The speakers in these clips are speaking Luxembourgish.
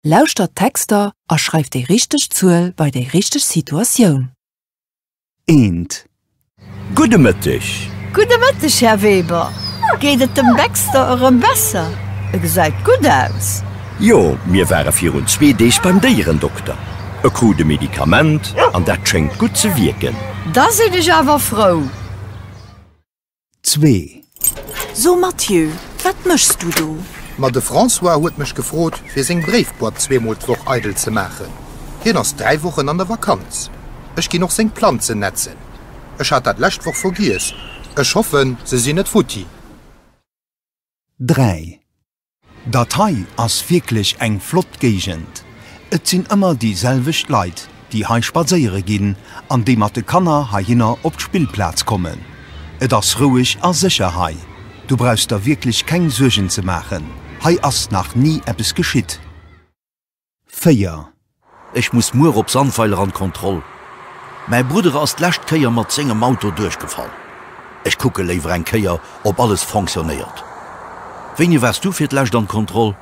Lauschtert d'Texter a schreift déi richteg Zuel bei déi richteg Situatioun. Eent. Gudde Mëtteg. Gudde Mëtteg, Här Weber. Geet et dem Baxter erëm besser? E gesäit gutt aus. Jo, mir ware virun zwee Deeg beim Déierendokter. E krut e Medikament an dat schéngt gutt ze wierken. Da sinn ech awer frou. Zwee. So Mathieu, wat méchs du do? Ma de François huet mech gefrot, fir seng Bréifboîte zweemol d'Woch eidel ze maachen. Hien ass dräi Wochen an der Vakanz. Ech ginn och seng Planzen nätzen. Ech hat dat lescht Woch vergiess. Ech hoffen, se sinn net futti. Dräi. Dat hei ass wierklech eng flott Géigend. Et sinn ëmmer déi selwecht Leit, déi hei spadséiere ginn an déi mat de Kanner heihinner op d'Spillplaz kommen. Et ass roueg a sécher hei. Du brauchs der wierklech keng Suergen ze maachen, hei ass nach ni eppes geschitt. 4. Ech muss muer op Sandweiler an d'Kontroll. Mäi Bruddere ass d'lescht Kéier mat séngem Auto duerchgefall. Ech kucke léiwer eng Kéier op alles fonctionnéiert. Wéini wars du fir d'lescht an d'Kontroll?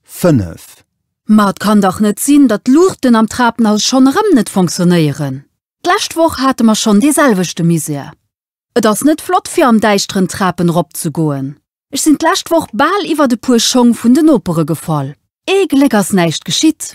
5. Ma et kann dach net sinn, datt d'Luuchten am Trapenhaus schonn erëm net fonctionnéieren. D'lescht Woch hate mer schonn dee selwechte Misär. Et ass net flott fir am däischteren Trapen rop ze goen. Ech sinn d'lescht Woch bal iwwert e puer Schong vun de Nopere gefall. Ee Gléck ass näischt geschitt.